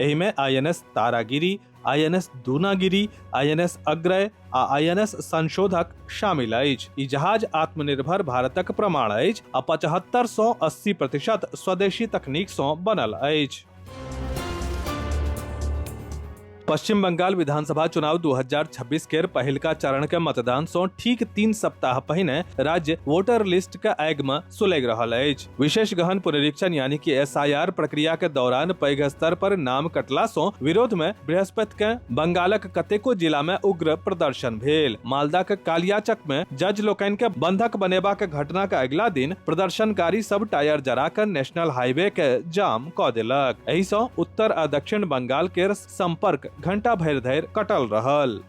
एहि में INS Taragiri INS Dunagiri INS Agray आ आईएनएस संशोधक शामिल अछि ई जहाज आत्मनिर्भर भारतक प्रमाण अछि आ पचहत्तर सौ अस्सी प्रतिशत स्वदेशी तकनीक सौ बनल अछि पश्चिम बंगाल विधानसभा चुनाव 2026 के पहिलका चरण के मतदान सौ ठीक तीन सप्ताह पहिने राज्य वोटर लिस्ट के आग में सुलग रहल अछि विशेष गहन पुनरीक्षण यानी कि एसआईआर प्रक्रिया के दौरान पैघ स्तर पर नाम कटला सो विरोध में बृहस्पति के बंगालक कतेको जिला में उग्र प्रदर्शन भेल मालदा के कालियाचक में जज लोकनि के बंधक बनेबा के घटना के अगिला दिन प्रदर्शनकारी सब टायर जरा कर नेशनल हाईवे के जाम क देलक एहि सो उत्तर आ दक्षिण बंगाल के संपर्क घंटा भरि धरि कटल रहल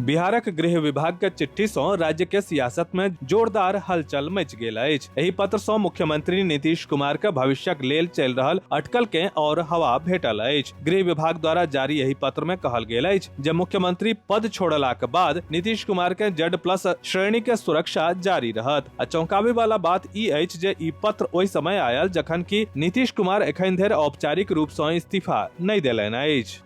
बिहारक गृह विभाग के चिट्ठी सं राज्य के सियासत में जोरदार हलचल मच गेल अछि एहि पत्र सं मुख्यमंत्री नीतीश कुमार के भविष्यक लेल चल रहल अटकल के और हवा भेटल अछि गृह विभाग द्वारा जारी एहि पत्र में कहल गेल अछि जे मुख्यमंत्री पद छोड़ला के बाद नीतीश कुमार के जेड प्लस श्रेणी के सुरक्षा जारी रहत आ चौंकावे वाला बात ई अछि जे ई पत्र ओहि समय आयल जखन कि नीतीश कुमार एखन धरि औपचारिक रूप सं इस्तीफा नहि देलनि अछि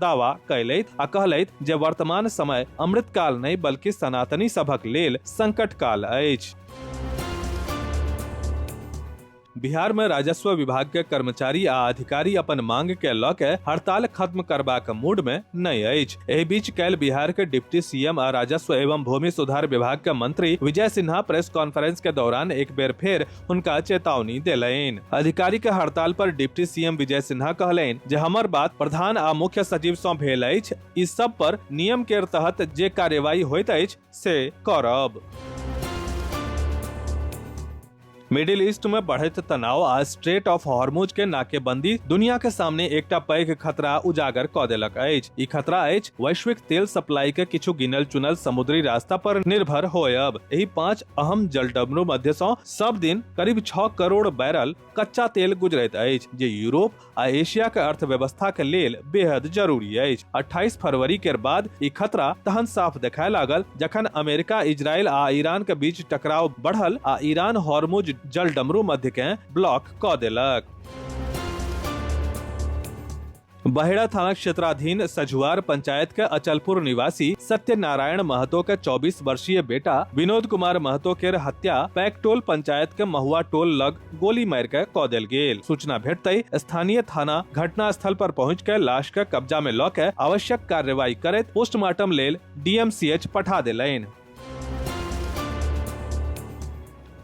दावा कयलथि आ कहलथि जे वर्तमान समय अमृतकाल नहि बल्कि सनातनी सभक लेल संकट काल अछि बिहार में राजस्व विभाग के कर्मचारी आ अधिकारी अपन मांग के लऽ के हड़ताल खत्म करबाक मूड में नहि अछि एहि बीच काल्हि बिहार के डिप्टी सीएम आ राजस्व एवं भूमि सुधार विभाग के मंत्री विजय सिन्हा प्रेस कॉन्फ्रेंस के दौरान एक बेर फेर उनका चेतावनी देलनि अधिकारी के हड़ताल पर डिप्टी सीएम विजय सिन्हा कहलनि जे हमर बात प्रधान आ मुख्य सचिव सँ भेल अछि ई सब पर नियम के तहत जे कार्यवाही होइत अछि से करब मिडिल ईस्ट में बढ़त तनाव आ स्ट्रेट ऑफ हॉर्मुज के नाकेबंदी दुनिया के सामने एकटा पैघ खतरा उजागर क देलक अछि ई खतरा अछि वैश्विक तेल सप्लाई के किछु गिनल चुनल समुद्री रास्ता पर निर्भर होयब एहि पांच अहम जलडमरू मध्य सं सब दिन करीब 6 करोड़ बैरल कच्चा तेल गुजरैत अछि जे यूरोप आ एशिया के अर्थव्यवस्था के लेल बेहद जरूरी अछि 28 फरवरी के बाद ई खतरा तहन साफ देखाय लागल जखन अमेरिका इजरायल आ ईरान के बीच टकराव बढ़ल आ ईरान हॉर्मुज जलडमरू मध्य के ब्लॉक क देलक बहेड़ा थाना क्षेत्राधीन सझुआर पंचायत के अचलपुर निवासी सत्यनारायण महतो के 24 वर्षीय बेटा विनोद कुमार महतो के हत्या पैकटोल पंचायत के महुआ टोल लग गोली मार के कऽ देल गेल सूचना भेटते स्थानीय थाना घटना स्थल पर पहुंच के लाश के कब्जा में लऽ के आवश्यक कार्रवाई करैत पोस्टमार्टम लेल डीएमसीएच पठा देलनि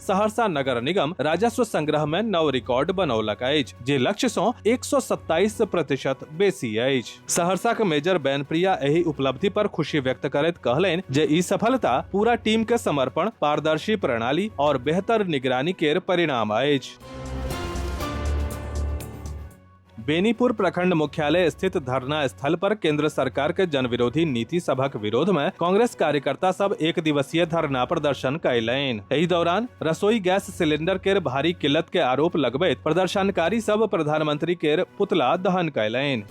सहरसा नगर निगम राजस्व संग्रह में नव रिकॉर्ड बनौलक अछि जे लक्ष्य सँ 127 प्रतिशत बेसी अछि सहरसा के मेजर बैनप्रिया एहि उपलब्धि पर खुशी व्यक्त करैत कहलनि जे ई सफलता पूरा टीम के समर्पण पारदर्शी प्रणाली और बेहतर निगरानी केर परिणाम अछि बेनीपुर प्रखंड मुख्यालय स्थित धरना स्थल पर केंद्र सरकार के जन विरोधी नीति सभक विरोध में कांग्रेस कार्यकर्ता सब एक दिवसीय धरना प्रदर्शन कयलनि एहि दौरान रसोई गैस सिलेंडर केर भारी किल्लत के आरोप लगबैत प्रदर्शनकारी सब प्रधानमंत्री केर पुतला दहन कयलनि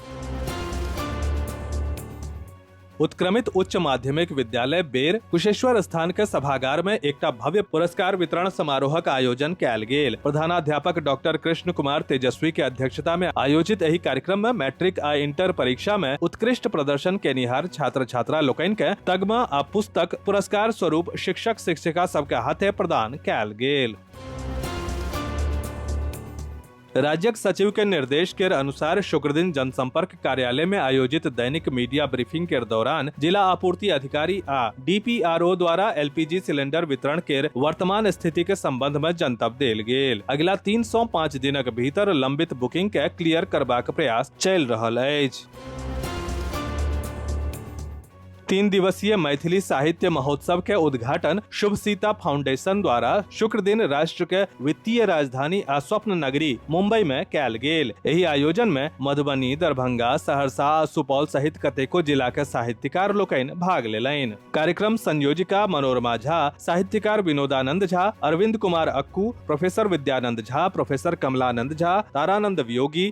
उत्क्रमित उच्च माध्यमिक विद्यालय बेर कुशेश्वर स्थान के सभागार में एकटा भव्य पुरस्कार वितरण समारोहक आयोजन कयल गेल प्रधानाध्यापक डॉक्टर कृष्ण कुमार तेजस्वी के अध्यक्षता में आयोजित एहि कार्यक्रम में मैट्रिक आ इंटर परीक्षा में उत्कृष्ट प्रदर्शन केनिहार छात्र छात्रा लोकनि के तगमा आ पुस्तक पुरस्कार स्वरूप शिक्षक शिक्षिका सबके हाथे प्रदान कयल गेल राज्यक सचिव के निर्देश के अनुसार शुक्र दिन जनसंपर्क कार्यालय में आयोजित दैनिक मीडिया ब्रीफिंग के दौरान जिला आपूर्ति अधिकारी आ डीपीआरओ द्वारा एलपीजी सिलेंडर वितरण के वर्तमान स्थिति के संबंध में जनतब देल गेल अगिला 305 दिनक भीतर लंबित बुकिंग के क्लियर करबाक प्रयास चल रहल अछि तीन दिवसीय मैथिली साहित्य महोत्सव के उद्घाटन शुभ सीता फाउंडेशन द्वारा शुक्र दिन राष्ट्र के वित्तीय राजधानी आ स्वप्न नगरी मुंबई में कैल गेल एहि आयोजन में मधुबनी दरभंगा सहरसा आ सुपौल सहित कतेको जिला के साहित्यकार लोकनि भाग लेलनि कार्यक्रम संयोजिका मनोरमा झा साहित्यकार विनोदानंद झा अरविंद कुमार अक्कू प्रोफेसर विद्यानंद झा प्रोफेसर कमलानंद झा तारानंद वियोगी